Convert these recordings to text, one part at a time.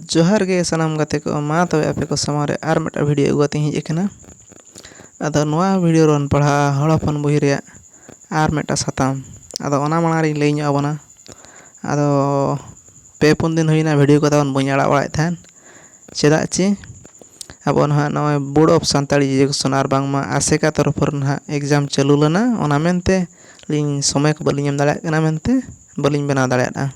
ᱡᱚᱦᱟᱨ ᱜᱮ ᱥᱟᱱᱟᱢ ᱜᱟᱛᱮ ᱠᱚ ᱢᱟ ᱛᱚᱵᱮ ᱟᱯᱮ ᱠᱚ ᱥᱟᱢᱟᱝ ᱨᱮ ᱟᱨ ᱢᱤᱫᱴᱟᱝ ᱵᱷᱤᱰᱭᱳ ᱟᱹᱜᱩ ᱠᱟᱛᱮᱫ ᱤᱧ ᱦᱮᱡ ᱟᱠᱟᱱᱟ ᱟᱫᱚ ᱱᱚᱣᱟ ᱵᱷᱤᱰᱭᱳ ᱨᱮᱵᱚᱱ ᱯᱟᱲᱦᱟᱜᱼᱟ ᱦᱚᱲ ᱦᱚᱯᱚᱱ ᱵᱳᱭ ᱨᱮᱭᱟᱜ ᱟᱨ ᱢᱤᱫᱴᱟᱝ ᱥᱟᱛᱟᱢ ᱟᱫᱚ ᱚᱱᱟ ᱢᱟᱲᱟᱝ ᱨᱤᱧ ᱞᱟᱹᱭ ᱧᱚᱜ ᱟᱵᱚᱱᱟ ᱟᱫᱚ ᱯᱮ ᱯᱩᱱ ᱫᱤᱱ ᱦᱩᱭᱱᱟ ᱵᱷᱤᱰᱭᱳ ᱠᱚ ᱛᱟᱵᱚᱱ ᱵᱟᱹᱧ ᱟᱲᱟᱜ ᱵᱟᱲᱟᱭᱮᱫ ᱛᱟᱦᱮᱱ ᱪᱮᱫᱟᱜ ᱪᱮ ᱟᱵᱚ ᱱᱟᱦᱟᱜ ᱱᱚᱜᱼᱚᱭ ᱵᱳᱨᱰ ᱚᱯᱷ ᱥᱟᱱᱛᱟᱲᱤ ᱮᱰᱩᱠᱮᱥᱚᱱ ᱟᱨ ᱵᱟᱝᱢᱟ ᱟᱥᱮᱠᱟ ᱛᱚᱨᱚᱯᱷ ᱠᱷᱚᱱ ᱱᱟᱦᱟᱜ ᱮᱠᱡᱟᱢ ᱪᱟᱹᱞᱩ ᱞᱮᱱᱟ ᱚᱱᱟ ᱢᱮᱱᱛᱮ ᱟᱹᱞᱤᱧ ᱥᱚᱢᱚᱭ ᱠᱚ ᱵᱟᱹᱞᱤᱧ ᱮᱢ ᱫᱟᱲᱮᱭᱟᱜ ᱠᱟᱱᱟ ᱢᱮᱱᱛᱮ ᱵᱟᱹᱞᱤᱧ ᱵᱮᱱᱟᱣ ᱫᱟᱲᱮᱭᱟᱫᱼᱟ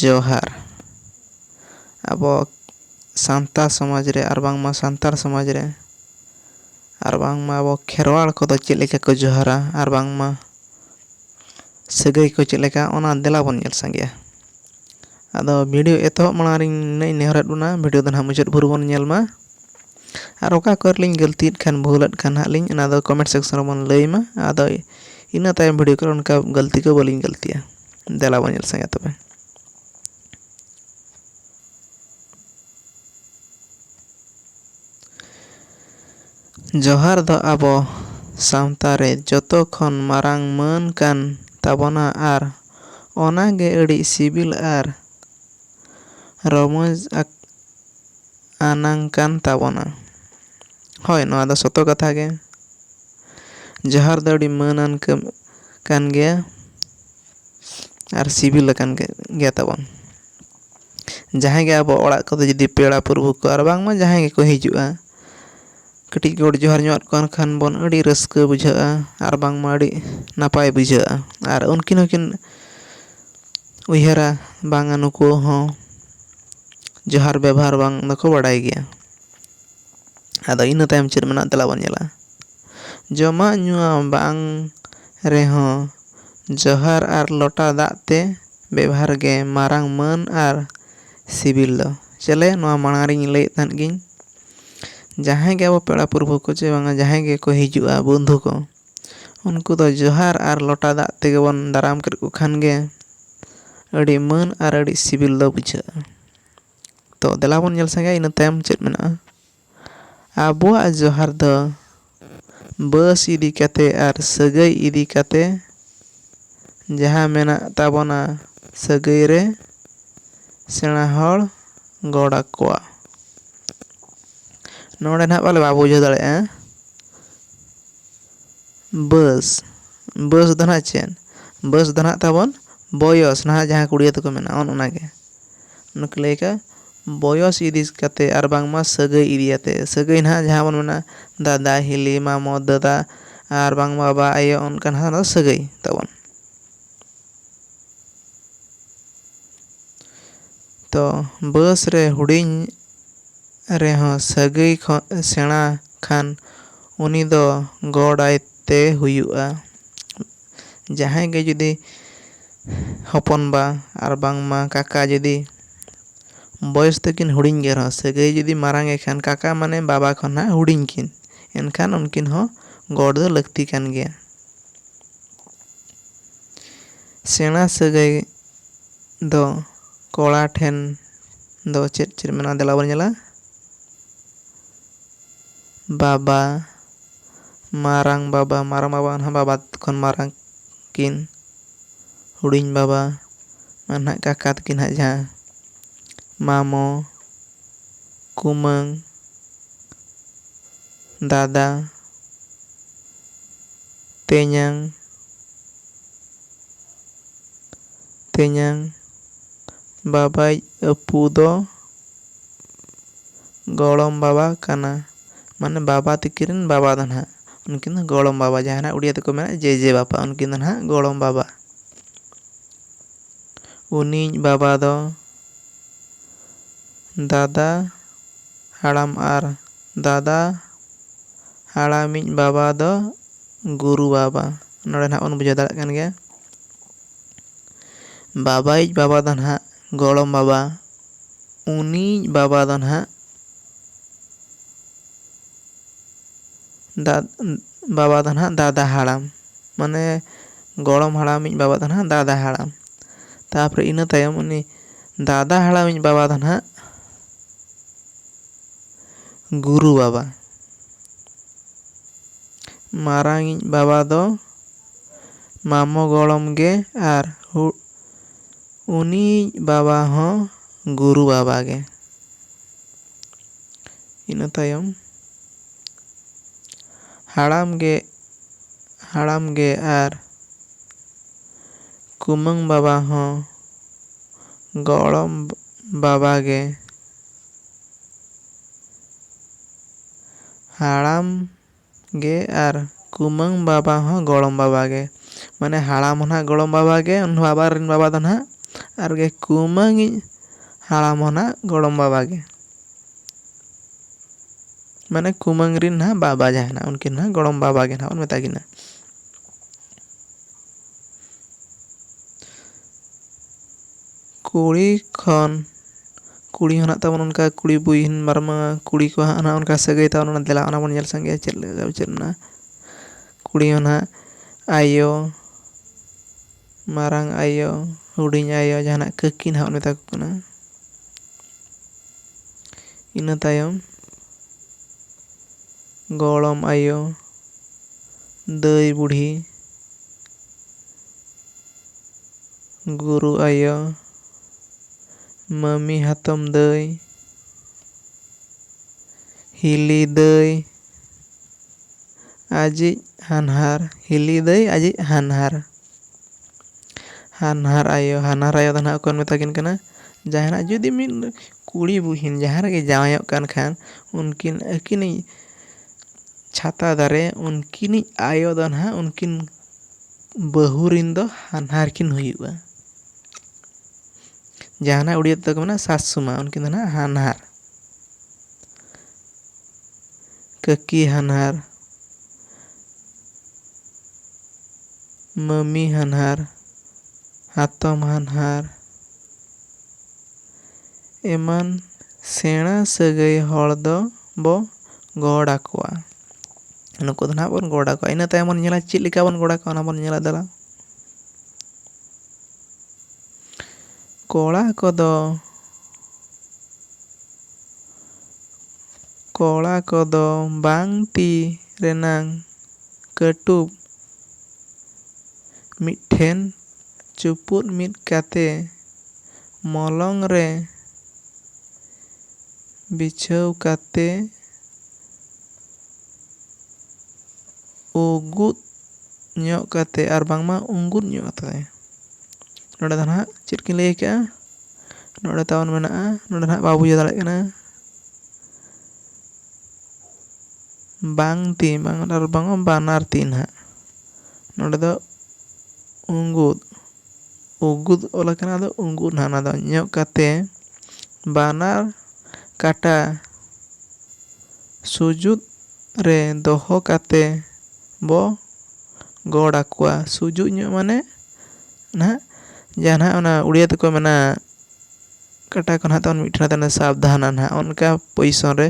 ᱡᱚᱦᱟᱨ ᱟᱵᱚ ᱥᱟᱱᱛᱟᱲ ᱥᱚᱢᱟᱡᱽ ᱨᱮ ᱟᱨ ᱵᱟᱝᱢᱟ ᱥᱟᱱᱛᱟᱲ ᱥᱚᱢᱟᱡᱽ ᱨᱮ ᱟᱨ ᱵᱟᱝᱢᱟ ᱟᱵᱚ ᱠᱷᱮᱨᱣᱟᱲ ᱠᱚᱫᱚ ᱪᱮᱫ ᱞᱮᱠᱟ ᱠᱚ ᱡᱚᱦᱟᱨᱟ ᱟᱨ ᱵᱟᱝᱢᱟ ᱥᱟᱹᱜᱟᱹᱭ ᱠᱚ ᱪᱮᱫ ᱞᱮᱠᱟ ᱚᱱᱟ ᱫᱮᱞᱟ ᱵᱚᱱ ᱧᱮᱞ ᱥᱟᱸᱜᱮᱭᱟ ᱟᱫᱚ ᱵᱷᱤᱰᱤᱭᱳ ᱮᱛᱚᱦᱚᱵ ᱢᱟᱲᱟᱝ ᱨᱮ ᱱᱤᱱᱟᱹᱜ ᱤᱧ ᱱᱮᱦᱚᱨᱮᱫ ᱵᱚᱱᱟ ᱵᱷᱤᱰᱤᱭᱳ ᱫᱚ ᱱᱟᱦᱟᱜ ᱢᱩᱪᱟᱹᱫ ᱵᱷᱳᱨ ᱵᱚᱱ ᱧᱮᱞ ᱢᱟ ᱟᱨ ᱚᱠᱟ ᱠᱚᱨᱮ ᱞᱤᱧ ᱜᱟᱹᱞᱛᱤᱭᱮᱫ ᱠᱷᱟᱱ ᱵᱷᱩᱞ ᱮᱫ ᱠᱷᱟᱱ ᱦᱟᱸᱜ ᱞᱤᱧ ᱚᱱᱟ ᱫᱚ ᱠᱚᱢᱮᱱᱴ ᱥᱮᱠᱥᱚᱱ ᱨᱮᱵᱚᱱ ᱞᱟᱹᱭ ᱢᱟ ᱟᱫᱚ ᱤᱱᱟᱹ ᱛᱟᱭᱚᱢ ᱵᱷᱤᱰᱤᱭᱳ ᱠᱚᱨᱮ ᱚᱱᱠᱟ ᱜᱟᱹᱞᱛᱤ ᱠᱚ ᱵᱟᱹᱞᱤᱧ ᱜᱟᱹᱞᱛᱤᱭᱟ ᱫᱮᱞᱟ ᱵᱚᱱ ᱧᱮᱞ ᱥᱟᱸᱜᱮᱭᱟ ᱛᱚᱵᱮ ᱡᱚᱦᱟᱨ ᱫᱚ ᱟᱵᱚ ᱥᱟᱶᱛᱟ ᱨᱮ ᱡᱚᱛᱚ ᱠᱷᱚᱱ ᱢᱟᱨᱟᱝ ᱢᱟᱹᱱ ᱠᱟᱱ ᱛᱟᱵᱚᱱᱟ ᱟᱨ ᱚᱱᱟ ᱜᱮ ᱟᱹᱰᱤ ᱥᱤᱵᱤᱞ ᱟᱨ ᱨᱚᱢᱚᱡᱽ ᱟᱱᱟᱝ ᱠᱟᱱ ᱛᱟᱵᱚᱱᱟ᱾ ᱦᱚᱭ ᱱᱚᱣᱟ ᱫᱚ ᱥᱚᱛᱚ ᱠᱟᱛᱷᱟ ᱜᱮ᱾ ᱡᱚᱦᱟᱨ ᱫᱚ ᱟᱹᱰᱤ ᱢᱟᱹᱱ ᱟᱱ ᱠᱟᱹᱢᱤ ᱠᱟᱱ ᱜᱮᱭᱟ ᱟᱨ ᱥᱤᱵᱤᱞ ᱟᱠᱟᱱ ᱜᱮ ᱛᱟᱵᱚᱱ᱾ ᱡᱟᱦᱟᱸᱭ ᱜᱮ ᱟᱵᱚ ᱚᱲᱟᱜ ᱠᱚᱫᱚ ᱡᱩᱫᱤ ᱯᱮᱲᱟ ᱯᱩᱨᱵᱷᱩ ᱠᱚ ᱟᱨ ᱵᱟᱝᱢᱟ ᱡᱟᱦᱟᱸᱭ ᱜᱮᱠᱚ ᱦᱤᱡᱩᱜᱼᱟ ᱠᱟᱹᱴᱤᱡ ᱜᱚᱰ ᱡᱚᱦᱟᱨ ᱧᱚᱜ ᱟᱫ ᱠᱚᱣᱟᱱ ᱠᱷᱟᱱ ᱵᱚᱱ ᱟᱹᱰᱤ ᱨᱟᱹᱥᱠᱟᱹ ᱵᱩᱡᱷᱟᱹᱜᱼᱟ ᱟᱨ ᱵᱟᱝᱢᱟ ᱟᱹᱰᱤ ᱱᱟᱯᱟᱭ ᱵᱩᱡᱷᱟᱹᱜᱼᱟ ᱟᱨ ᱩᱱᱠᱤᱱ ᱦᱚᱸᱠᱤᱱ ᱩᱭᱦᱟᱹᱨᱟ ᱵᱟᱝᱟ ᱱᱩᱠᱩ ᱦᱚᱸ ᱡᱚᱦᱟᱨ ᱵᱮᱵᱚᱦᱟᱨ ᱵᱟᱝ ᱫᱚᱠᱚ ᱵᱟᱲᱟᱭ ᱜᱮᱭᱟ ᱟᱫᱚ ᱤᱱᱟᱹ ᱛᱟᱭᱚᱢ ᱪᱮᱫ ᱢᱮᱱᱟᱜᱼᱟ ᱫᱮᱞᱟ ᱵᱚᱱ ᱧᱮᱞᱟ ᱡᱚᱢᱟᱜ ᱧᱩᱣᱟᱜ ᱵᱟᱝ ᱨᱮᱦᱚᱸ ᱡᱚᱦᱟᱨ ᱟᱨ ᱞᱚᱴᱟ ᱫᱟᱜ ᱛᱮ ᱵᱮᱵᱷᱟᱨ ᱜᱮ ᱢᱟᱨᱟᱝ ᱢᱟᱹᱱ ᱟᱨ ᱥᱤᱵᱤᱞ ᱫᱚ ᱪᱮᱞᱮ ᱱᱚᱣᱟ ᱢᱟᱲᱟᱝ ᱨᱤᱧ ᱞᱟᱹᱭᱮᱫ ᱛᱟᱦᱮᱸᱫ ᱜᱤᱧ ᱡᱟᱦᱟᱸᱭ ᱜᱮ ᱟᱵᱚ ᱯᱮᱲᱟ ᱯᱨᱚᱵᱷᱩ ᱠᱚ ᱪᱮ ᱵᱟᱝᱟ ᱡᱟᱦᱟᱸᱭ ᱜᱮᱠᱚ ᱦᱤᱡᱩᱜᱼᱟ ᱵᱚᱱᱫᱷᱩ ᱠᱚ ᱩᱱᱠᱩ ᱫᱚ ᱡᱚᱦᱟᱨ ᱟᱨ ᱞᱚᱴᱟ ᱫᱟᱜ ᱛᱮᱜᱮ ᱵᱚᱱ ᱫᱟᱨᱟᱢ ᱠᱮᱫ ᱠᱚ ᱠᱷᱟᱱ ᱜᱮ ᱟᱹᱰᱤ ᱢᱟᱹᱱ ᱟᱨ ᱟᱹᱰᱤ ᱥᱤᱵᱤᱞ ᱫᱚ ᱵᱩᱡᱷᱟᱹᱜᱼᱟ ᱛᱚ ᱫᱮᱞᱟ ᱵᱚᱱ ᱧᱮᱞ ᱥᱟᱸᱜᱮᱭᱟ ᱤᱱᱟᱹ ᱛᱟᱭᱚᱢ ᱪᱮᱫ ᱢᱮᱱᱟᱜᱼᱟ ᱟᱵᱚᱣᱟᱜ ᱡᱚᱦᱟᱨ ᱫᱚ ᱵᱟᱹᱥ ᱤᱫᱤ ᱠᱟᱛᱮ ᱟᱨ ᱥᱟᱹᱜᱟᱹᱭ ᱤᱫᱤ ᱠᱟᱛᱮ ᱡᱟᱦᱟᱸ ᱢᱮᱱᱟᱜ ᱛᱟᱵᱚᱱᱟ ᱥᱟᱹᱜᱟᱹᱭ ᱨᱮ ᱥᱮᱬᱟ ᱦᱚᱲ ᱜᱚᱰ ᱟᱠᱚᱣᱟ ᱱᱚᱰᱮ ᱱᱟᱦᱟᱜ ᱯᱟᱞᱮ ᱵᱟᱵᱚ ᱵᱩᱡᱷᱟᱹᱣ ᱫᱟᱲᱮᱭᱟᱜᱼᱟ ᱵᱟᱹᱥ ᱵᱟᱹᱥ ᱫᱚ ᱱᱟᱦᱟᱜ ᱪᱮᱫ ᱵᱟᱹᱥ ᱫᱚ ᱱᱟᱦᱟᱜ ᱛᱟᱵᱚᱱ ᱵᱚᱭᱚᱥ ᱱᱟᱦᱟᱜ ᱡᱟᱦᱟᱸ ᱠᱩᱲᱤᱭᱟᱹ ᱛᱮᱠᱚ ᱢᱮᱱᱟ ᱚᱱ ᱚᱱᱟ ᱜᱮ ᱚᱱᱟ ᱠᱚ ᱞᱟᱹᱭ ᱠᱟᱜᱼᱟ ᱵᱚᱭᱚᱥ ᱤᱫᱤ ᱠᱟᱛᱮᱫ ᱟᱨ ᱵᱟᱝᱢᱟ ᱥᱟᱹᱜᱟᱹᱭ ᱤᱫᱤ ᱠᱟᱛᱮᱫ ᱥᱟᱹᱜᱟᱹᱭ ᱱᱟᱦᱟᱜ ᱡᱟᱦᱟᱸ ᱵᱚᱱ ᱢᱮᱱᱟ ᱫᱟᱫᱟ ᱦᱤᱞᱤ ᱢᱟᱢᱚ ᱫᱟᱫᱟ ᱟᱨ ᱵᱟᱝ ᱵᱟᱵᱟ ᱟᱭᱳ ᱚᱱᱠᱟ ᱱᱟᱦᱟᱜ ᱚᱱᱟ ᱫᱚ ᱥᱟᱹᱜᱟᱹᱭ ᱛᱟᱵᱚᱱ ᱛᱚ ᱵᱟᱹᱥ ᱨᱮ ᱦᱩᱰᱤᱧ ᱨᱮᱦᱚᱸ ᱥᱟᱹᱜᱟᱹᱭ ᱠᱷᱚᱱ ᱥᱮᱬᱟ ᱠᱷᱟᱱ ᱩᱱᱤ ᱫᱚ ᱜᱚᱰ ᱟᱭ ᱛᱮ ᱦᱩᱭᱩᱜᱼᱟ᱾ ᱡᱟᱦᱟᱸᱭ ᱜᱮ ᱡᱩᱫᱤ ᱦᱚᱯᱚᱱ ᱵᱟ ᱟᱨ ᱵᱟᱝ ᱢᱟ ᱠᱟᱠᱟ ᱡᱩᱫᱤ ᱵᱚᱭᱚᱥ ᱛᱮ ᱠᱤᱱ ᱦᱩᱰᱤᱧ ᱜᱮ ᱨᱮᱦᱚᱸ ᱥᱟᱹᱜᱟᱹᱭ ᱡᱩᱫᱤ ᱢᱟᱨᱟᱝ ᱜᱮ ᱠᱷᱟᱱ ᱠᱟᱠᱟ ᱢᱟᱱᱮ ᱵᱟᱵᱟ ᱠᱷᱚᱱ ᱦᱟᱸᱜ ᱦᱩᱰᱤᱧ ᱠᱤᱱ ᱮᱱᱠᱷᱟᱱ ᱩᱱᱠᱤᱱ ᱦᱚᱸ ᱜᱚᱰ ᱫᱚ ᱞᱟᱹᱠᱛᱤ ᱠᱟᱱ ᱜᱮᱭᱟ᱾ ᱥᱮᱬᱟ ᱥᱟᱹᱜᱟᱹᱭ ᱫᱚ ᱠᱚᱲᱟ ᱴᱷᱮᱱ ᱫᱚ ᱪᱮᱫ ᱪᱮᱫ ᱢᱮᱱᱟᱜᱼᱟ ᱫᱮᱞᱟ ᱵᱚᱱ ᱧᱮᱞᱟ᱾ ᱵᱟᱵᱟ ᱢᱟᱨᱟᱝ ᱵᱟᱵᱟ ᱢᱟᱨᱟᱝ ᱵᱟᱵᱟ ᱢᱟᱱᱮ ᱵᱟᱵᱟ ᱠᱷᱚᱱ ᱢᱟᱨᱟᱝ ᱠᱤᱱ ᱦᱩᱰᱤᱧ ᱵᱟᱵᱟ ᱢᱟᱱᱮ ᱦᱟᱸᱜ ᱠᱟᱠᱟ ᱛᱟᱹᱠᱤᱱ ᱦᱟᱸᱜ ᱡᱟᱦᱟᱸ ᱢᱟᱢᱚ ᱠᱩᱢᱟᱹᱝ ᱫᱟᱫᱟ ᱛᱮᱧᱟᱝ ᱛᱮᱧᱟᱝ ᱵᱟᱵᱟᱭᱤᱡ ᱟᱹᱯᱩ ᱫᱚ ᱜᱚᱲᱚᱢ ᱵᱟᱵᱟ ᱠᱟᱱᱟ ᱢᱟᱱᱮ ᱵᱟᱵᱟ ᱛᱤᱠᱤᱱ ᱨᱮᱱ ᱵᱟᱵᱟ ᱫᱚ ᱱᱟᱦᱟᱜ ᱩᱱᱠᱤᱱ ᱫᱚ ᱜᱚᱲᱚᱢ ᱵᱟᱵᱟ ᱡᱟᱦᱟᱸᱭ ᱱᱟᱦᱟᱜ ᱩᱲᱤᱭᱟ ᱛᱮᱠᱚ ᱢᱮᱱᱟ ᱡᱮᱡᱮ ᱵᱟᱯᱟ ᱩᱱᱠᱤᱱ ᱫᱚ ᱱᱟᱦᱟᱜ ᱜᱚᱲᱚᱢ ᱵᱟᱵᱟ ᱩᱱᱤᱡ ᱵᱟᱵᱟ ᱫᱚ ᱫᱟᱫᱟ ᱦᱟᱲᱟᱢ ᱟᱨ ᱫᱟᱫᱟ ᱦᱟᱲᱟᱢᱤᱡ ᱵᱟᱵᱟ ᱫᱚ ᱜᱩᱨᱩ ᱵᱟᱵᱟ ᱱᱚᱰᱮ ᱱᱟᱦᱟᱜ ᱵᱚᱱ ᱵᱩᱡᱷᱟᱹᱣ ᱫᱟᱲᱮᱭᱟᱜ ᱠᱟᱱ ᱜᱮᱭᱟ ᱵᱟᱵᱟᱭᱤᱡ ᱵᱟᱵᱟ ᱫᱚ ᱱᱟᱦᱟᱜ ᱜᱚᱲᱚᱢ ᱵᱟᱵᱟ ᱩᱱᱤᱭᱤᱡ ᱵᱟᱵᱟ ᱫᱚ ᱱᱟᱦᱟᱜ ᱫᱟᱫ ᱵᱟᱵᱟ ᱫᱚ ᱱᱟᱦᱟᱜ ᱫᱟᱫᱟ ᱦᱟᱲᱟᱢ ᱢᱟᱱᱮ ᱜᱚᱲᱚᱢ ᱦᱟᱲᱟᱢᱤᱡ ᱵᱟᱵᱟ ᱫᱚ ᱱᱟᱦᱟᱜ ᱫᱟᱫᱟ ᱦᱟᱲᱟᱢ ᱛᱟᱯᱚᱨᱮ ᱤᱱᱟᱹ ᱛᱟᱭᱚᱢ ᱩᱱᱤ ᱫᱟᱫᱟ ᱦᱟᱲᱟᱢᱤᱡ ᱵᱟᱵᱟ ᱫᱚ ᱱᱟᱦᱟᱜ ᱜᱩᱨᱩ ᱵᱟᱵᱟ ᱢᱟᱨᱟᱝᱤᱡ ᱵᱟᱵᱟ ᱫᱚ ᱢᱟᱢᱚ ᱜᱚᱲᱚᱢ ᱜᱮ ᱟᱨ ᱦᱩ ᱩᱱᱤᱭᱤᱡ ᱵᱟᱵᱟ ᱦᱚᱸ ᱜᱩᱨᱩ ᱵᱟᱵᱟ ᱜᱮ᱾ ᱤᱱᱟᱹ ᱛᱟᱭᱚᱢ ᱦᱟᱲᱟᱢ ᱜᱮ ᱦᱟᱲᱟᱢ ᱜᱮ ᱟᱨ ᱠᱩᱢᱟᱹᱝ ᱵᱟᱵᱟ ᱦᱚᱸ ᱜᱚᱲᱚᱢ ᱵᱟᱵᱟ ᱜᱮ᱾ ᱦᱟᱲᱟᱢ᱾ ᱜᱮ ᱟᱨ ᱠᱩᱢᱟᱹᱝ ᱵᱟᱵᱟ ᱦᱚᱸ ᱜᱚᱲᱚᱢ ᱵᱟᱵᱟ ᱜᱮ᱾ ᱢᱟᱱᱮ ᱦᱟᱲᱟᱢ ᱦᱚᱸ ᱱᱟᱜ ᱜᱚᱲᱚᱢ ᱵᱟᱵᱟ ᱜᱮ ᱩᱱᱤ ᱵᱟᱵᱟ ᱨᱤᱱ ᱵᱟᱵᱟ ᱫᱚ ᱱᱟᱜ ᱟᱨ ᱜᱮ ᱠᱩᱢᱟᱹᱝ ᱤᱡ ᱦᱟᱲᱟᱢ ᱦᱚᱸ ᱱᱟᱜ ᱜᱚᱲᱚᱢ ᱵᱟᱵᱟ ᱜᱮ᱾ ᱢᱟᱱᱮ ᱠᱩᱢᱟᱹᱝ ᱨᱤᱱ ᱱᱟᱜ ᱵᱟᱵᱟ ᱡᱟᱦᱟᱸᱭ ᱱᱟᱜ ᱩᱱᱠᱤᱱ ᱱᱟᱜ ᱜᱚᱲᱚᱢ ᱵᱟᱵᱟ ᱜᱮ ᱱᱟᱜ ᱵᱚᱱ ᱢᱮᱛᱟ ᱠᱤᱱᱟ᱾ ᱠᱩᱲᱤ ᱠᱷᱚᱱ᱾ ᱠᱩᱲᱤ ᱦᱚᱸ ᱢᱮᱱᱟᱜ ᱛᱟᱵᱚᱱᱟ ᱚᱱᱠᱟ ᱠᱩᱲᱤ ᱵᱩᱦᱤᱱ ᱢᱟᱨᱟᱝ ᱢᱟᱨᱟᱝ ᱠᱩᱲᱤ ᱠᱚ ᱦᱟᱸᱜ ᱚᱱᱠᱟ ᱥᱟᱹᱜᱟᱹᱭ ᱛᱟᱵᱚᱱ ᱚᱱᱟ ᱫᱮᱞᱟ ᱚᱱᱟ ᱵᱚᱱ ᱧᱮᱞ ᱥᱟᱸᱜᱮᱭᱟ ᱪᱮᱫ ᱞᱮᱠᱟ ᱪᱮᱫ ᱢᱮᱱᱟᱜᱼᱟ ᱠᱩᱲᱤ ᱦᱚᱸ ᱱᱟᱜ ᱟᱭᱳ ᱢᱟᱨᱟᱝ ᱟᱭᱳ ᱦᱩᱰᱤᱧ ᱟᱭᱳ ᱡᱟᱦᱟᱱᱟᱜ ᱠᱟᱹᱠᱤ ᱱᱟᱜ ᱵᱚᱱ ᱢᱮᱛᱟ ᱠᱚ ᱠᱟᱱᱟ ᱤᱱᱟᱹ ᱛᱟᱭᱚᱢ ᱜᱚᱲᱚᱢ ᱟᱭᱳ ᱫᱟᱹᱭ ᱵᱩᱰᱷᱤ ᱜᱩᱨᱩ ᱟᱭᱳ ᱢᱟᱹᱢᱤ ᱦᱟᱛᱚᱢ ᱫᱟᱹᱭ, ᱦᱤᱞᱤ ᱫᱟᱹᱭ ᱟᱡᱤᱡ ᱦᱟᱱᱦᱟᱨ, ᱦᱤᱞᱤ ᱫᱟᱹᱭ ᱟᱡᱤᱡ ᱦᱟᱱᱦᱟᱨ, ᱦᱟᱱᱦᱟᱨ ᱟᱭᱳ, ᱦᱟᱱᱦᱟᱨ ᱟᱭᱳ ᱫᱚ ᱱᱟᱦᱟᱜ ᱚᱠᱚᱭ ᱵᱚᱱ ᱢᱮᱛᱟ ᱠᱤᱱ ᱠᱟᱱᱟ? ᱡᱟᱦᱟᱸᱭ ᱱᱟᱦᱟᱜ ᱡᱩᱫᱤ ᱢᱤᱫ ᱠᱩᱲᱤ ᱵᱩᱦᱤᱱ ᱡᱟᱦᱟᱸ ᱨᱮᱜᱮ ᱡᱟᱶᱟᱭᱚᱜ ᱠᱟᱱ ᱠᱷᱟᱱ ᱩᱱᱠᱤᱱ ᱟᱹᱠᱤᱱᱤᱡ ᱪᱷᱟᱛᱟ ᱫᱟᱨᱮ ᱩᱱᱠᱤᱱᱤᱡ ᱟᱭᱳ ᱫᱚ ᱱᱟᱦᱟᱜ ᱩᱱᱠᱤᱱ ᱵᱟᱹᱦᱩ ᱨᱮᱱ ᱫᱚ ᱦᱟᱱᱦᱟᱨ ᱠᱤᱱ ᱦᱩᱭᱩᱜᱼᱟ᱾ ᱡᱟᱦᱟᱱᱟᱜ ᱩᱲᱤᱭᱟ ᱛᱮᱫᱚ ᱠᱚ ᱢᱮᱱᱟ ᱥᱟᱥᱩᱢᱟ ᱩᱱᱠᱤᱱ ᱫᱚ ᱱᱟᱦᱟᱜ ᱦᱟᱱᱦᱟᱨ ᱠᱟᱹᱠᱤ ᱦᱟᱱᱦᱟᱨ ᱢᱟᱹᱢᱤ ᱦᱟᱱᱦᱟᱨ ᱦᱟᱛᱚᱢ ᱦᱟᱱᱦᱟᱨ ᱮᱢᱟᱱ ᱥᱮᱬᱟ ᱥᱟᱹᱜᱟᱹᱭ ᱦᱚᱲ ᱫᱚ ᱵᱚ ᱜᱚᱰ ᱟᱠᱚᱣᱟ ᱱᱩᱠᱩ ᱫᱚ ᱱᱟᱦᱟᱜ ᱵᱚᱱ ᱜᱚᱰ ᱟᱠᱚᱣᱟ ᱤᱱᱟᱹ ᱛᱟᱭᱚᱢ ᱵᱚᱱ ᱧᱮᱞᱟ ᱪᱮᱫ ᱞᱮᱠᱟ ᱵᱚᱱ ᱜᱚᱰ ᱟᱠᱚᱣᱟ ᱚᱱᱟ ᱵᱚᱱ ᱧᱮᱞᱟ ᱫᱮᱞᱟ ᱠᱚᱲᱟ ᱠᱚᱫᱚ ᱠᱚᱲᱟ ᱠᱚᱫᱚ ᱵᱟᱝ ᱛᱤ ᱨᱮᱱᱟᱝ ᱠᱟᱹᱴᱩᱵ ᱢᱤᱫᱴᱷᱮᱱ ᱪᱩᱯᱩᱫ ᱢᱤᱫ ᱠᱟᱛᱮ ᱢᱚᱞᱚᱝ ᱨᱮ ᱵᱤᱪᱷᱟᱹᱣ ᱠᱟᱛᱮ ᱩᱜᱩᱫ ᱧᱚᱜ ᱠᱟᱛᱮ ᱟᱨ ᱵᱟᱝᱢᱟ ᱩᱸᱜᱩᱫ ᱧᱚᱜ ᱠᱟᱛᱮ ᱱᱚᱰᱮ ᱫᱚ ᱱᱟᱦᱟᱜ ᱪᱮᱫ ᱠᱤᱱ ᱞᱟᱹᱭ ᱠᱟᱜᱼᱟ ᱱᱚᱰᱮ ᱛᱟᱵᱚᱱ ᱢᱮᱱᱟᱜᱼᱟ ᱱᱚᱰᱮ ᱱᱟᱦᱟᱜ ᱵᱟᱵᱚ ᱵᱩᱡᱷᱟᱹᱣ ᱫᱟᱲᱮᱭᱟᱜ ᱠᱟᱱᱟ ᱵᱟᱝ ᱛᱤ ᱵᱟᱝ ᱟᱨ ᱵᱟᱝ ᱵᱟᱱᱟᱨ ᱛᱤ ᱱᱟᱦᱟᱜ ᱱᱚᱰᱮ ᱫᱚ ᱩᱸᱜᱩᱫ ᱩᱸᱜᱩᱫ ᱚᱞ ᱠᱟᱱᱟ ᱟᱫᱚ ᱩᱸᱜᱩᱫ ᱱᱟᱦᱟᱜ ᱚᱱᱟ ᱫᱚ ᱧᱚᱜ ᱠᱟᱛᱮ ᱵᱟᱱᱟᱨ ᱠᱟᱴᱟ ᱥᱩᱡᱩᱫ ᱨᱮ ᱫᱚᱦᱚ ᱠᱟᱛᱮ ᱵᱚ ᱜᱚᱲ ᱟᱠᱚᱣᱟ ᱥᱩᱡᱩᱜ ᱧᱚᱜ ᱢᱟᱱᱮ ᱱᱟᱦᱟᱜ ᱡᱟᱦᱟᱸ ᱱᱟᱦᱟᱜ ᱚᱱᱟ ᱩᱲᱤᱭᱟ ᱛᱮᱠᱚ ᱢᱮᱱᱟ ᱠᱟᱴᱟ ᱠᱚ ᱱᱟᱦᱟᱜ ᱛᱟᱵᱚᱱ ᱢᱤᱫᱴᱷᱮᱱ ᱛᱟᱦᱮᱱᱟ ᱥᱟᱵᱫᱷᱟᱱᱟ ᱱᱟᱦᱟᱜ ᱚᱱᱠᱟ ᱯᱚᱭᱤᱥᱚᱱ ᱨᱮ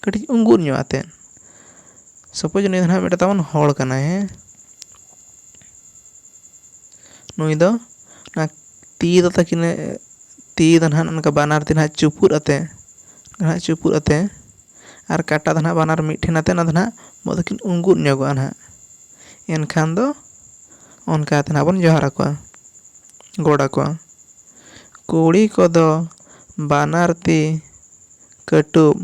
ᱠᱟᱹᱴᱤᱡ ᱩᱸᱜᱩᱫ ᱧᱚᱜ ᱟᱛᱮᱫ ᱥᱟᱯᱳᱡᱽ ᱱᱩᱭ ᱫᱚ ᱱᱟᱦᱟᱜ ᱢᱤᱫᱴᱮᱱ ᱛᱟᱵᱚᱱ ᱦᱚᱲ ᱠᱟᱱᱟᱭ ᱦᱮᱸ ᱱᱩᱭ ᱫᱚ ᱚᱱᱟ ᱛᱤ ᱫᱚ ᱛᱟᱹᱠᱤᱱᱮ ᱛᱤ ᱫᱚ ᱱᱟᱦᱟᱜ ᱱᱚᱝᱠᱟ ᱵᱟᱱᱟᱨ ᱛᱤ ᱱᱟᱦᱟᱜ ᱪᱩᱯᱩᱫ ᱟᱛᱮᱫ ᱱᱟᱦᱟᱜ ᱪᱩᱯᱩᱫ ᱟᱛᱮᱫ ᱟᱨ ᱠᱟᱴᱟ ᱫᱚ ᱱᱟᱦᱟᱜ ᱵᱟᱱᱟᱨ ᱢᱤᱫ ᱴᱷᱮᱱ ᱟᱛᱮᱫ ᱚᱱᱟ ᱫᱚ ᱱᱟᱦᱟᱜ ᱵᱚᱦᱚᱜ ᱫᱚᱠᱤᱱ ᱩᱸᱜᱩᱫ ᱧᱚᱜᱚᱜᱼᱟ ᱱᱟᱦᱟᱜ ᱮᱱᱠᱷᱟᱱ ᱫᱚ ᱚᱱᱠᱟ ᱠᱟᱛᱮᱫ ᱱᱟᱦᱟᱜ ᱵᱚᱱ ᱡᱚᱦᱟᱨ ᱟᱠᱚᱣᱟ ᱜᱚᱰ ᱟᱠᱚᱣᱟ ᱠᱩᱲᱤ ᱠᱚᱫᱚ ᱵᱟᱱᱟᱨ ᱛᱤ ᱠᱟᱹᱴᱩᱵ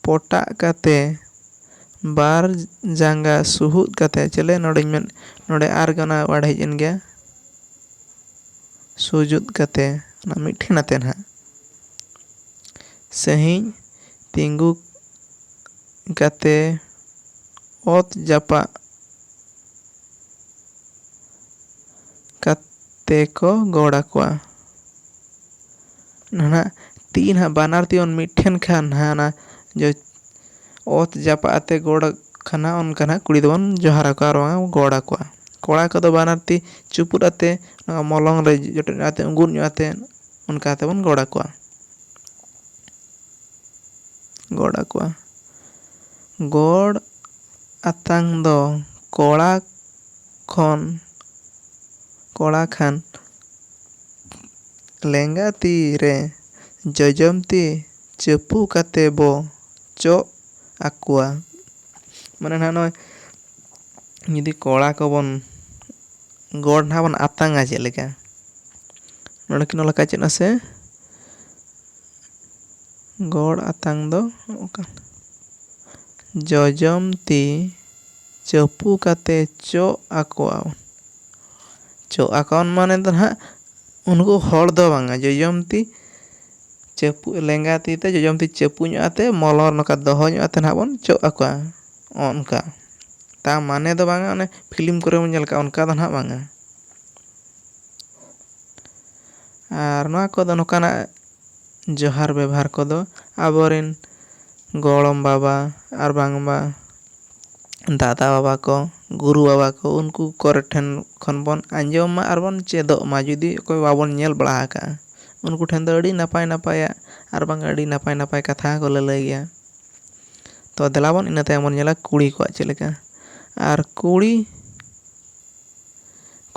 ᱯᱚᱴᱟᱜ ᱠᱟᱛᱮᱫ ᱵᱟᱨ ᱡᱟᱸᱜᱟ ᱥᱩᱦᱩᱫ ᱠᱟᱛᱮᱫ ᱪᱮᱞᱮ ᱱᱚᱰᱮᱧ ᱢᱮᱱ ᱱᱚᱰᱮ ᱟᱨ ᱜᱮ ᱚᱱᱟ ᱚᱣᱟᱨᱰ ᱦᱮᱡ ᱮᱱ ᱜᱮᱭᱟ ᱥᱩᱡᱩᱫ ᱠᱟᱛᱮᱫ ᱚᱱᱟ ᱢᱤᱫ ᱴᱷᱮᱱ ᱟᱛᱮᱫ ᱱᱟᱦᱟᱜ ᱥᱟᱺᱦᱤᱡ ᱛᱤᱸᱜᱩ ᱠᱟᱛᱮ ᱚᱛ ᱡᱟᱯᱟᱜ ᱠᱟᱛᱮ ᱠᱚ ᱜᱚᱲ ᱟᱠᱚᱣᱟ ᱱᱟᱦᱟᱜ ᱛᱤ ᱱᱟᱦᱟᱜ ᱵᱟᱱᱟᱨ ᱛᱤ ᱡᱮᱢᱚᱱ ᱢᱤᱫ ᱴᱷᱮᱱ ᱠᱷᱟᱱ ᱱᱟᱦᱟᱜ ᱚᱱᱟ ᱚᱛ ᱡᱟᱯᱟᱜ ᱟᱛᱮ ᱜᱚᱲ ᱠᱷᱟᱱ ᱱᱟᱦᱟᱜ ᱚᱱᱠᱟ ᱱᱟᱦᱟᱜ ᱠᱩᱲᱤ ᱫᱚᱵᱚᱱ ᱡᱚᱦᱟᱨ ᱟᱠᱚᱣᱟ ᱟᱨ ᱵᱟᱝ ᱜᱚᱲ ᱟᱠᱚᱣᱟ ᱠᱚᱲᱟ ᱠᱚᱫᱚ ᱵᱟᱱᱟᱨ ᱛᱤ ᱪᱩᱯᱩᱫ ᱟᱛᱮ ᱱᱚᱣᱟ ᱢᱚᱞᱚᱝ ᱨᱮ ᱡᱚᱴᱮᱫ ᱧᱚᱜ ᱟᱛᱮ ᱩᱸᱜᱩᱫ ᱧᱚᱜ ᱟᱛᱮ ᱚᱱᱠᱟ ᱠᱟᱛᱮ ᱵᱚᱱ ᱜᱚᱲ ᱟᱠᱚᱣᱟ ᱜᱚᱲ ᱟᱠᱚᱣᱟ ᱜᱚᱲ ᱟᱛᱟᱝ ᱫᱚ ᱠᱚᱲᱟ ᱠᱷᱚᱱ ᱠᱚᱲᱟ ᱠᱷᱟᱱ ᱞᱮᱸᱜᱟ ᱛᱤ ᱨᱮ ᱡᱚᱡᱚᱢ ᱛᱤ ᱪᱟᱹᱯᱩ ᱠᱟᱛᱮ ᱵᱚ ᱪᱚᱜ ᱟᱠᱚᱣᱟ ᱢᱟᱱᱮ ᱱᱟᱦᱟᱜ ᱱᱚᱜᱼᱚᱭ ᱡᱩᱫᱤ ᱠᱚᱲᱟ ᱠᱚᱵᱚᱱ ᱜᱚᱲ ᱱᱟᱦᱟᱜ ᱵᱚᱱ ᱟᱛᱟᱝᱟ ᱪᱮᱫ ᱞᱮᱠᱟ ᱱᱚᱰᱮ ᱠᱤᱱ ᱚᱞ ᱟᱠᱟᱫ ᱪᱮᱫ ᱢᱟᱥᱮ ᱜᱚᱲ ᱟᱛᱟᱝ ᱫᱚ ᱚᱠᱟ ᱡᱚᱡᱚᱢ ᱛᱤ ᱪᱟᱹᱯᱩ ᱠᱟᱛᱮ ᱪᱚᱜ ᱟᱠᱚᱣᱟ ᱪᱚᱜ ᱟᱠᱚᱣᱟᱱ ᱢᱟᱱᱮ ᱫᱚ ᱱᱟᱦᱟᱜ ᱩᱱᱠᱩ ᱦᱚᱲ ᱫᱚ ᱵᱟᱝᱟ ᱡᱚᱡᱚᱢ ᱛᱤ ᱪᱟᱹᱯᱩ ᱞᱮᱸᱜᱟ ᱛᱤ ᱛᱮ ᱡᱚᱡᱚᱢ ᱛᱤ ᱪᱟᱹᱯᱩ ᱧᱚᱜ ᱟᱛᱮ ᱢᱚᱞᱚᱝ ᱱᱚᱝᱠᱟ ᱫᱚᱦᱚ ᱧᱚᱜ ᱟᱛᱮ ᱱᱟᱦᱟᱜ ᱵᱚᱱ ᱪᱚᱜ ᱟᱠᱚᱣᱟ ᱚᱱᱠᱟ ᱛᱟ ᱢᱟᱱᱮ ᱫᱚ ᱵᱟᱝᱟ ᱚᱱᱮ ᱯᱷᱤᱞᱤᱢ ᱠᱚᱨᱮ ᱵᱚᱱ ᱧᱮᱞ ᱠᱟᱜᱼᱟ ᱚᱱᱠᱟ ᱫᱚ ᱱᱟᱦᱟᱜ ᱵᱟᱝᱟ ᱟᱨ ᱱᱚᱣᱟ ᱠᱚᱫᱚ ᱱᱚᱝᱠᱟᱱᱟᱜ ᱡᱚᱦᱟᱨ ᱵᱮᱵᱷᱟᱨ ᱠᱚᱫᱚ ᱟᱵᱚ ᱨᱮᱱ ᱜᱚᱲᱚᱢ ᱵᱟᱵᱟ ᱟᱨ ᱵᱟᱝᱢᱟ ᱫᱟᱫᱟ ᱵᱟᱵᱟ ᱠᱚ ᱜᱩᱨᱩ ᱵᱟᱵᱟ ᱠᱚ ᱩᱱᱠᱩ ᱠᱚᱨᱮ ᱴᱷᱮᱱ ᱠᱷᱚᱱ ᱵᱚᱱ ᱟᱸᱡᱚᱢ ᱢᱟ ᱟᱨ ᱵᱚᱱ ᱪᱮᱫᱚᱜ ᱢᱟ ᱡᱩᱫᱤ ᱚᱠᱚᱭ ᱵᱟᱵᱚᱱ ᱧᱮᱞ ᱵᱟᱲᱟ ᱟᱠᱟᱫᱼᱟ ᱩᱱᱠᱩ ᱴᱷᱮᱱ ᱫᱚ ᱟᱹᱰᱤ ᱱᱟᱯᱟᱭ ᱱᱟᱯᱟᱭᱟᱜ ᱟᱨ ᱵᱟᱝ ᱟᱹᱰᱤ ᱱᱟᱯᱟᱭ ᱱᱟᱯᱟᱭ ᱠᱟᱛᱷᱟ ᱦᱚᱸᱠᱚ ᱞᱟᱹᱞᱟᱹᱭ ᱜᱮᱭᱟ ᱛᱚ ᱫᱮᱞᱟ ᱵᱚᱱ ᱤᱱᱟᱹ ᱛᱟᱭᱚᱢ ᱵᱚᱱ ᱧᱮᱞᱟ ᱠᱩᱲᱤ ᱠᱚᱣᱟᱜ ᱪᱮᱫ ᱞᱮᱠᱟ ᱟᱨ ᱠᱩᱲᱤ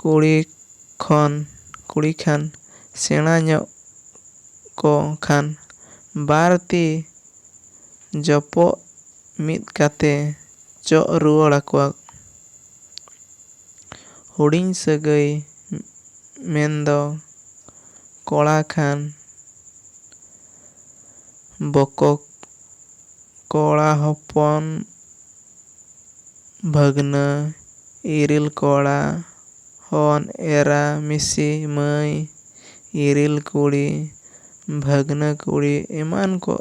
ᱠᱩᱲᱤ ᱠᱷᱚᱱ ᱠᱩᱲᱤ ᱠᱷᱟᱱ ᱥᱮᱬᱟ ᱧᱚᱜ ᱠᱚ ᱠᱷᱟᱱ ᱵᱟᱨ ᱛᱤ ᱡᱚᱯᱚᱜ ᱢᱤᱫ ᱠᱟᱛᱮ ᱪᱚᱜ ᱨᱩᱣᱟᱹᱲ ᱟᱠᱚᱣᱟ ᱦᱩᱰᱤᱧ ᱥᱟᱹᱜᱟᱹᱭ ᱢᱮᱱ ᱫᱚ ᱠᱚᱲᱟ ᱠᱷᱟᱱ ᱵᱚᱠᱚ ᱠᱚᱲᱟ ᱦᱚᱯᱚᱱ ᱵᱷᱟᱹᱜᱽᱱᱟᱹ ᱤᱨᱤᱞ ᱠᱚᱲᱟ ᱦᱚᱱ ᱮᱨᱟ ᱢᱤᱥᱤ ᱢᱟᱹᱭ ᱤᱨᱤᱞ ᱠᱩᱲᱤ ᱵᱷᱟᱹᱜᱽᱱᱟᱹ ᱠᱩᱲᱤ ᱮᱢᱟᱱ ᱠᱚ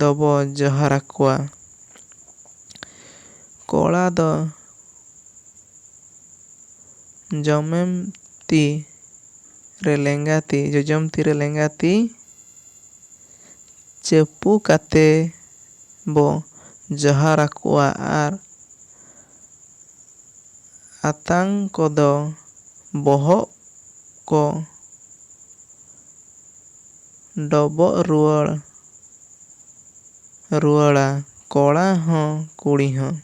ᱫᱚᱵᱚ ᱡᱚᱦᱟᱨ ᱟᱠᱚᱣᱟ᱾ ᱠᱚᱲᱟ ᱫᱚ ᱡᱚᱢᱮᱢ ᱛᱤ᱾ ᱨᱮ ᱞᱮᱸᱜᱟ ᱛᱤ, ᱡᱚᱡᱚᱢ ᱛᱤ ᱨᱮ ᱞᱮᱸᱜᱟ ᱛᱤ ᱪᱟᱹᱯᱩ ᱠᱟᱛᱮ ᱵᱚ ᱡᱚᱦᱟᱨ ᱟᱠᱚᱣᱟ ᱟᱨ ᱟᱛᱟᱝ ᱠᱚᱫᱚ ᱵᱚᱦᱚᱜ ᱠᱚ ᱰᱚᱵᱚᱜ ᱨᱩᱣᱟᱹᱲ ᱨᱩᱣᱟᱹᱲᱟ ᱠᱚᱲᱟ ᱦᱚᱸ ᱠᱩᱲᱤ ᱦᱚᱸ᱾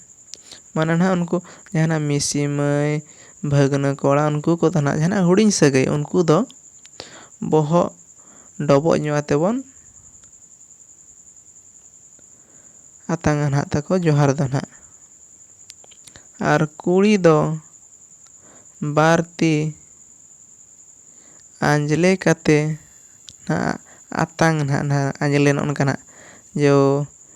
ᱢᱟᱱᱮ ᱱᱟᱜ ᱩᱱᱠᱩ ᱡᱟᱦᱟᱱᱟᱜ ᱢᱤᱥᱤ ᱢᱟᱹᱭ ᱵᱷᱟᱹᱜᱽᱱᱟᱹ ᱠᱚᱲᱟ ᱩᱱᱠᱩ ᱠᱚ ᱛᱟᱦᱮᱱᱟ ᱡᱟᱦᱟᱱᱟᱜ ᱦᱩᱰᱤᱧ ᱥᱟᱹᱜᱟᱹᱭ ᱩᱱᱠᱩ ᱫᱚ ᱵᱚᱦᱚᱜ ᱰᱚᱵᱚᱜ ᱧᱚᱜ ᱟᱛᱮ ᱵᱚᱱ ᱟᱛᱟᱝᱟ ᱱᱟᱜ ᱛᱟᱠᱚ ᱡᱚᱦᱟᱨ ᱫᱚ ᱱᱟᱜ ᱟᱨ ᱠᱩᱲᱤ ᱫᱚ ᱵᱟᱨ ᱛᱤ ᱟᱸᱡᱽᱞᱮ ᱠᱟᱛᱮ ᱱᱟᱜ ᱟᱛᱟᱝ ᱱᱟᱜ ᱟᱸᱡᱽᱞᱮ ᱱᱚᱜᱼᱚ ᱱᱚᱝᱠᱟ ᱱᱟᱜ ᱡᱚ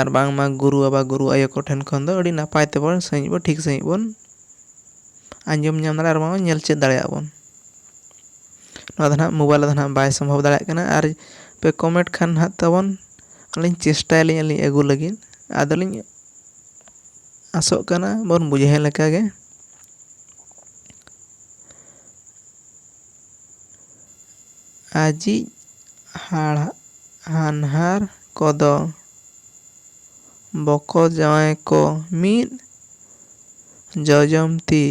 ᱟᱨ ᱵᱟᱝᱢᱟ ᱜᱩᱨᱩ ᱵᱟᱵᱟ ᱜᱩᱨᱩ ᱟᱭᱳ ᱠᱚᱴᱷᱮᱱ ᱠᱷᱚᱱ ᱫᱚ ᱟᱹᱰᱤ ᱱᱟᱯᱟᱭ ᱛᱮᱵᱚᱱ ᱥᱟᱺᱦᱤᱡ ᱵᱚᱱ ᱴᱷᱤᱠ ᱥᱟᱺᱦᱤᱡ ᱵᱚᱱ ᱟᱸᱡᱚᱢ ᱧᱟᱢ ᱫᱟᱲᱮᱭᱟᱜᱼᱟ ᱟᱨ ᱵᱟᱝ ᱧᱮᱞ ᱪᱮᱫ ᱫᱟᱲᱮᱭᱟᱜᱼᱟ ᱵᱚᱱ ᱱᱚᱣᱟ ᱫᱚ ᱱᱟᱜ ᱢᱳᱵᱟᱭᱤᱞ ᱨᱮᱫᱚ ᱱᱟᱜ ᱵᱟᱭ ᱥᱚᱢᱵᱷᱚᱵ ᱫᱟᱲᱮᱭᱟᱜ ᱠᱟᱱᱟ ᱟᱨ ᱯᱮ ᱠᱚᱢᱮᱱᱴ ᱠᱷᱟᱱ ᱱᱟᱜ ᱛᱟᱵᱚᱱ ᱟᱹᱞᱤᱧ ᱪᱮᱥᱴᱟᱭᱟᱞᱤᱧ ᱟᱹᱞᱤᱧ ᱟᱹᱜᱩ ᱞᱟᱹᱜᱤᱫ ᱟᱫᱚᱞᱤᱧ ᱟᱥᱚᱜ ᱠᱟᱱᱟ ᱵᱚᱱ ᱵᱩᱡᱷᱟᱹᱣ ᱞᱮᱠᱟᱜᱮ ᱟᱡᱤᱡ ᱦᱟᱲᱦᱟᱱᱦᱟᱨ ᱠᱚᱫᱚ ᱵᱚᱠᱚᱡᱟᱶᱟᱭ ᱠᱚ ᱢᱤᱫ ᱡᱚᱡᱚᱢ ᱛᱤ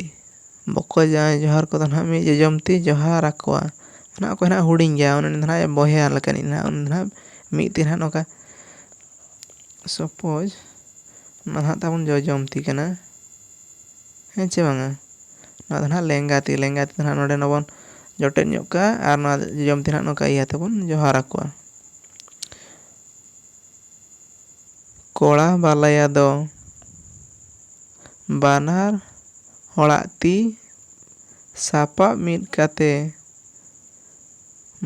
ᱵᱚᱠᱚᱡᱟᱶᱟᱭ ᱡᱚᱦᱟᱨ ᱠᱚᱫᱚ ᱱᱟᱦᱟᱜ ᱢᱤᱫ ᱡᱚᱡᱚᱢ ᱛᱤ ᱡᱚᱦᱟᱨ ᱟᱠᱚᱣᱟ ᱱᱟᱦᱟᱜ ᱚᱠᱚᱭ ᱱᱟᱦᱟᱜ ᱦᱩᱰᱤᱧ ᱜᱮᱭᱟ ᱩᱱᱤ ᱫᱚ ᱱᱟᱦᱟᱜ ᱵᱚᱭᱦᱟ ᱞᱮᱠᱟᱱᱤᱡ ᱱᱟᱦᱟᱜ ᱩᱱᱤ ᱫᱚ ᱱᱟᱦᱟᱜ ᱢᱤᱫ ᱛᱤ ᱱᱟᱦᱟᱜ ᱱᱚᱝᱠᱟ ᱥᱚᱯᱳᱡᱽ ᱱᱚᱣᱟ ᱫᱚ ᱱᱟᱦᱟᱜ ᱛᱟᱵᱚᱱ ᱡᱚᱡᱚᱢ ᱛᱤ ᱠᱟᱱᱟ ᱦᱮᱸ ᱪᱮ ᱵᱟᱝᱟ ᱱᱚᱣᱟ ᱫᱚ ᱱᱟᱦᱟᱜ ᱞᱮᱸᱜᱟ ᱛᱤ ᱞᱮᱸᱜᱟ ᱛᱤ ᱫᱚ ᱱᱟᱦᱟᱜ ᱱᱚᱰᱮ ᱱᱚᱵᱚᱱ ᱡᱚᱴᱮᱫ ᱧᱚᱜ ᱠᱟᱜᱼᱟ ᱟᱨ ᱱᱚᱣᱟ ᱡᱚᱡᱚᱢ ᱛᱤ ᱱᱟᱦᱟᱜ ᱱᱚᱝᱠᱟ ᱤᱭᱟᱹ ᱛᱮᱵᱚᱱ ᱡᱚᱦᱟᱨ ᱟᱠᱚᱣᱟ ᱠᱚᱲᱟ ᱵᱟᱞᱟᱭᱟ ᱫᱚ ᱵᱟᱱᱟᱨ ᱦᱚᱲᱟᱜ ᱛᱤ ᱥᱟᱯᱟᱵ ᱢᱤᱫ ᱠᱟᱛᱮ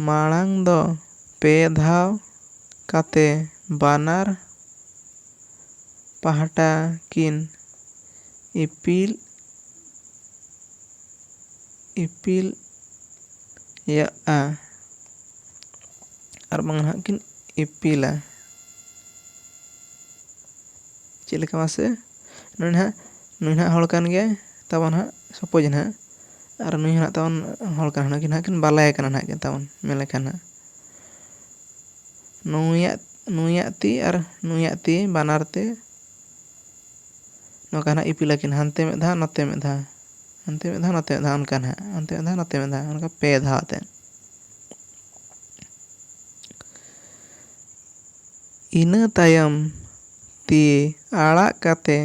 ᱢᱟᱲᱟᱝ ᱫᱚ ᱯᱮ ᱫᱷᱟᱣ ᱠᱟᱛᱮ ᱵᱟᱱᱟᱨ ᱯᱟᱦᱴᱟ ᱠᱤᱱ ᱤᱯᱤᱞ ᱤᱯᱤᱞ ᱭᱟᱜᱼᱟ ᱟᱨ ᱵᱟᱝ ᱱᱟᱦᱟᱜ ᱠᱤᱱ ᱤᱯᱤᱞᱟ ᱪᱮᱫ ᱞᱮᱠᱟ ᱢᱟᱥᱮ ᱱᱩᱭ ᱱᱟᱦᱟᱜ ᱱᱩᱭ ᱱᱟᱦᱟᱜ ᱦᱚᱲ ᱠᱟᱱ ᱜᱮᱭᱟᱭ ᱛᱟᱵᱚᱱ ᱱᱟᱦᱟᱜ ᱥᱚᱯᱳᱡᱽ ᱱᱟᱦᱟᱜ ᱟᱨ ᱱᱩᱭ ᱦᱚᱸ ᱱᱟᱦᱟᱜ ᱛᱟᱵᱚᱱ ᱦᱚᱲ ᱠᱟᱱ ᱜᱮᱭᱟᱭ ᱱᱩᱠᱤᱱ ᱱᱟᱦᱟᱜ ᱠᱤᱱ ᱵᱟᱞᱟᱭᱟ ᱠᱟᱱᱟ ᱱᱟᱦᱟᱜ ᱠᱤᱱ ᱛᱟᱵᱚᱱ ᱢᱮᱱ ᱞᱮᱠᱷᱟᱱ ᱱᱟᱦᱟᱜ ᱱᱩᱭᱟᱜ ᱱᱩᱭᱟᱜ ᱛᱤ ᱟᱨ ᱱᱩᱭᱟᱜ ᱛᱤ ᱵᱟᱱᱟᱨ ᱛᱮ ᱱᱚᱝᱠᱟ ᱱᱟᱦᱟᱜ ᱤᱯᱤᱞ ᱟᱹᱠᱤᱱ ᱦᱟᱱᱛᱮ ᱢᱤᱫ ᱫᱷᱟᱣ ᱱᱚᱛᱮ ᱢᱤᱫ ᱫᱷᱟᱣ ᱦᱟᱱᱛᱮ ᱢᱤᱫ ᱫᱷᱟᱣ ᱱᱚᱛᱮ ᱢᱤᱫ ᱫᱷᱟᱣ ᱚᱱᱠᱟ ᱱᱟᱦᱟᱜ ᱦᱟᱱᱛᱮ ᱢᱤᱫ ᱫᱷᱟᱣ ᱱᱚᱛᱮ ᱢᱤᱫ ᱫᱷᱟᱣ ᱚᱱᱠᱟ ᱯᱮ ᱫᱷᱟᱣ ᱟᱛᱮᱫ ᱤᱱᱟᱹ ᱛᱟᱭᱚᱢ ᱛᱤ ᱟᱲᱟᱜ ᱠᱟᱛᱮ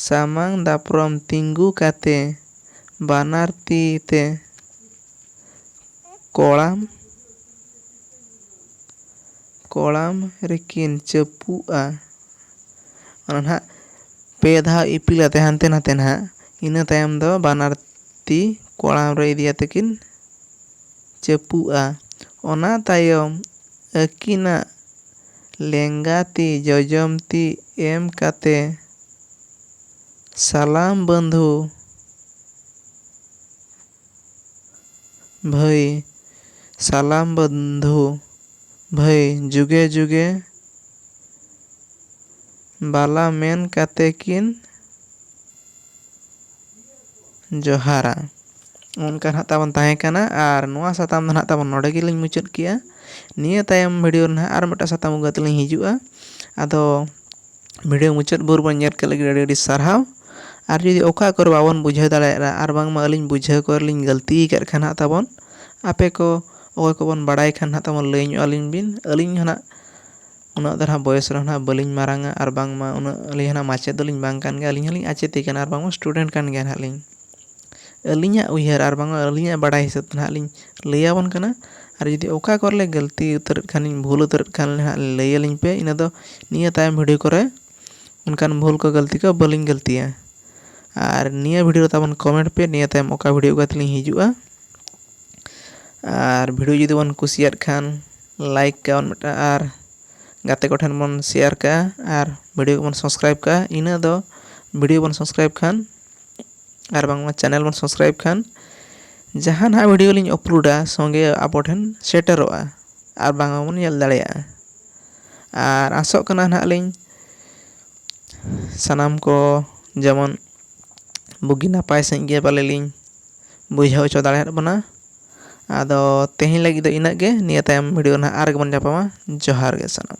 ᱥᱟᱢᱟᱝ ᱫᱟᱯᱨᱚᱢ ᱛᱤᱸᱜᱩ ᱠᱟᱛᱮ ᱵᱟᱱᱟᱨ ᱛᱤ ᱛᱮ ᱠᱚᱲᱟᱢ ᱠᱚᱲᱟᱢ ᱨᱮᱠᱤᱱ ᱪᱟᱹᱯᱩᱜᱼᱟ ᱚᱱᱟ ᱱᱟᱦᱟᱜ ᱯᱮ ᱫᱷᱟᱣ ᱤᱯᱤᱞ ᱟᱛᱮ ᱦᱟᱱᱛᱮ ᱱᱟᱛᱮ ᱱᱟᱦᱟᱜ ᱤᱱᱟᱹ ᱛᱟᱭᱚᱢ ᱫᱚ ᱵᱟᱱᱟᱨ ᱛᱤ ᱠᱚᱲᱟᱢ ᱨᱮ ᱤᱫᱤ ᱠᱟᱛᱮ ᱠᱤᱱ ᱪᱟᱹᱯᱩᱜᱼᱟ ᱚᱱᱟ ᱛᱟᱭᱚᱢ ᱟᱹᱠᱤᱱᱟᱜ ᱞᱮᱸᱜᱟ ᱛᱤ ᱡᱚᱡᱚᱢ ᱛᱤ ᱮᱢ ᱠᱟᱛᱮ ᱥᱟᱞᱟᱢ ᱵᱟᱹᱱᱫᱷᱩ ᱵᱷᱟᱹᱭ ᱥᱟᱞᱟᱢ ᱵᱚᱱᱫᱷᱩ ᱵᱷᱟᱹᱭ ᱡᱩᱜᱮ ᱡᱩᱜᱮ ᱵᱟᱞᱟ ᱢᱮᱱ ᱠᱟᱛᱮ ᱠᱤᱱ ᱡᱚᱦᱟᱨᱟ᱾ ᱚᱱᱠᱟ ᱱᱟᱦᱟᱜ ᱛᱟᱵᱚᱱ ᱛᱟᱦᱮᱸ ᱠᱟᱱᱟ ᱟᱨ ᱱᱚᱣᱟ ᱥᱟᱛᱟᱢ ᱫᱚ ᱱᱟᱦᱟᱜ ᱛᱟᱵᱚᱱ ᱱᱚᱰᱮ ᱜᱮᱞᱤᱧ ᱢᱩᱪᱟᱹᱫ ᱠᱮᱜᱼᱟ᱾ ᱱᱤᱭᱟᱹ ᱛᱟᱭᱚᱢ ᱵᱷᱤᱰᱤᱭᱳ ᱨᱮ ᱱᱟᱦᱟᱜ ᱟᱨ ᱢᱤᱫᱴᱟᱝ ᱥᱟᱛᱟᱢ ᱟᱹᱜᱩ ᱠᱟᱛᱮ ᱞᱤᱧ ᱦᱤᱡᱩᱜᱼᱟ᱾ ᱟᱫᱚ ᱵᱷᱤᱰᱤᱭᱳ ᱢᱩᱪᱟᱹᱫ ᱵᱷᱳᱨ ᱵᱚᱱ ᱧᱮᱞ ᱠᱮᱫ ᱞᱟᱹᱜᱤᱫ ᱟᱹᱰᱤ ᱟᱹᱰᱤ ᱥᱟᱨᱦᱟᱣ ᱟᱨ ᱡᱩᱫᱤ ᱚᱠᱟ ᱠᱚᱨᱮ ᱵᱟᱵᱚᱱ ᱵᱩᱡᱷᱟᱹᱣ ᱫᱟᱲᱮᱭᱟᱜᱼᱟ ᱟᱨ ᱵᱟᱝᱢᱟ ᱟᱹᱞᱤᱧ ᱵᱩᱡᱷᱟᱹᱣ ᱠᱚᱨᱮ ᱞᱤᱧ ᱜᱟᱹᱞᱛᱤ ᱟᱠᱟᱫ ᱠᱷᱟᱱ ᱦᱟᱸᱜ ᱛᱟᱵᱚᱱ ᱟᱯᱮ ᱠᱚ ᱚᱠᱚᱭ ᱠᱚᱵᱚᱱ ᱵᱟᱲᱟᱭ ᱠᱷᱟᱱ ᱦᱟᱸᱜ ᱛᱟᱵᱚᱱ ᱞᱟᱹᱭ ᱧᱚᱜ ᱟᱹᱞᱤᱧ ᱵᱤᱱ ᱟᱹᱞᱤᱧ ᱦᱚᱸ ᱦᱟᱸᱜ ᱩᱱᱟᱹᱜ ᱫᱚ ᱦᱟᱸᱜ ᱵᱚᱭᱮᱥ ᱨᱮᱦᱚᱸ ᱦᱟᱸᱜ ᱵᱟᱹᱞᱤᱧ ᱢᱟᱨᱟᱝᱟ ᱟᱨ ᱵᱟᱝᱢᱟ ᱩᱱᱟᱹᱜ ᱟᱹᱞᱤᱧ ᱦᱚᱸ ᱢᱟᱪᱮᱫ ᱫᱚᱞᱤᱧ ᱵᱟᱝ ᱠᱟᱱ ᱜᱮᱭᱟ ᱟᱹᱞᱤᱧ ᱦᱚᱸᱞᱤᱧ ᱟᱪᱮᱫ ᱜᱮ ᱠᱟᱱᱟ ᱟᱨ ᱵᱟᱝᱢᱟ ᱥᱴᱩᱰᱮᱱᱴ ᱠᱟᱱ ᱜᱮᱭᱟ ᱦᱟᱸᱜ ᱞᱤᱧ ᱟᱹᱞᱤᱧᱟᱜ ᱩᱭᱦᱟᱹᱨ ᱟᱨ ᱵᱟᱝᱢᱟ ᱟᱹᱞᱤᱧᱟᱜ ᱵᱟᱰᱟᱭ ᱦᱤᱥᱟᱹᱵ ᱛᱮ ᱱᱟᱦᱟᱜ ᱞᱤᱧ ᱞᱟᱹᱭ ᱟᱵᱚᱱ ᱠᱟᱱᱟ ᱟᱨ ᱡᱩᱫᱤ ᱚᱠᱟ ᱠᱚᱨᱮ ᱞᱮ ᱜᱟᱹᱞᱛᱤ ᱩᱛᱟᱹᱨᱮᱫ ᱠᱷᱟᱱ ᱞᱤᱧ ᱵᱷᱩᱞ ᱩᱛᱟᱹᱨᱮᱫ ᱠᱷᱟᱱ ᱞᱤᱧ ᱦᱟᱸᱜ ᱞᱟᱹᱭ ᱟᱹᱞᱤᱧ ᱯᱮ ᱤᱱᱟᱹ ᱫᱚ ᱱᱤᱭᱟᱹ ᱛᱟᱭᱚᱢ ᱵᱷᱤᱰᱭᱳ ᱠᱚᱨᱮ ᱚᱱᱠᱟᱱ ᱵᱷᱩᱞ ᱠᱚ ᱜᱟᱹᱞᱛᱤ ᱠᱚ ᱵᱟᱹᱞᱤᱧ ᱜᱟᱹᱞᱛᱤᱭᱟ ᱟᱨ ᱱᱤᱭᱟᱹ ᱵᱷᱤᱰᱭᱳ ᱨᱮ ᱛᱟᱵᱚᱱ ᱠᱚᱢᱮᱱᱴ ᱯᱮ ᱱᱤᱭᱟᱹ ᱛᱟᱭᱚᱢ ᱚᱠᱟ ᱵᱷᱤᱰᱭᱳ ᱚᱠᱟ ᱛᱮᱞᱤᱧ ᱦᱤᱡᱩᱜᱼᱟ ᱟᱨ ᱵᱷᱤᱰᱭᱳ ᱡᱩᱫᱤ ᱵᱚᱱ ᱠᱩᱥᱤᱭᱟᱜ ᱠᱷᱟᱱ ᱞᱟᱭᱤᱠ ᱠᱟᱜᱼᱟ ᱵᱚᱱ ᱢᱤᱫᱴᱟᱝ ᱟᱨ ᱜᱟᱛᱮ ᱠᱚᱴᱷᱮᱱ ᱵᱚᱱ ᱥᱮᱭᱟᱨ ᱠᱟᱜᱼᱟ ᱟᱨ ᱵᱷᱤᱰᱭᱳ ᱠᱚᱵᱚᱱ ᱥᱟᱵᱥᱠᱨᱟᱭᱤᱵᱽ ᱠᱟᱜᱼᱟ ᱤᱱᱟᱹ ᱫᱚ ᱵᱷᱤᱰᱭᱳ ᱵᱚᱱ ᱥᱟᱵᱥᱠᱨᱟᱭᱤᱵᱽ ᱠᱷᱟᱱ ᱟᱨ ᱵᱟᱝᱢᱟ ᱪᱮᱱᱮᱞ ᱵᱚᱱ ᱥᱟᱵᱥᱠᱨᱟᱭᱤᱵᱽ ᱠᱷᱟᱱ ᱡᱟᱦᱟᱸ ᱱᱟᱦᱟᱜ ᱵᱷᱤᱰᱭᱳ ᱞᱤᱧ ᱟᱯᱞᱳᱰᱟ ᱥᱚᱸᱜᱮ ᱟᱵᱚ ᱴᱷᱮᱱ ᱥᱮᱴᱮᱨᱚᱜᱼᱟ ᱟᱨ ᱵᱟᱝᱟ ᱵᱚᱱ ᱧᱮᱞ ᱫᱟᱲᱮᱭᱟᱜᱼᱟ ᱟᱨ ᱟᱥᱚᱜ ᱠᱟᱱᱟ ᱱᱟᱦᱟᱜ ᱞᱤᱧ ᱥᱟᱱᱟᱢ ᱠᱚ ᱡᱮᱢᱚᱱ ᱵᱩᱜᱤ ᱱᱟᱯᱟᱭ ᱥᱟᱺᱦᱤᱡ ᱜᱮ ᱯᱟᱞᱮ ᱞᱤᱧ ᱵᱩᱡᱷᱟᱹᱣ ᱦᱚᱪᱚ ᱫᱟᱲᱮᱭᱟᱜ ᱵᱚᱱᱟ ᱟᱫᱚ ᱛᱮᱦᱮᱧ ᱞᱟᱹᱜᱤᱫ ᱫᱚ ᱤᱱᱟᱹᱜ ᱜᱮ ᱱᱤᱭᱟᱹ ᱛᱟᱭᱚᱢ ᱵᱷᱤᱰᱭᱳ ᱨᱮ ᱱᱟᱦᱟᱜ ᱟᱨ ᱜᱮᱵᱚᱱ ᱧᱟᱯᱟᱢᱟ ᱡᱚᱦᱟᱨ ᱜᱮ ᱥᱟᱱᱟᱢ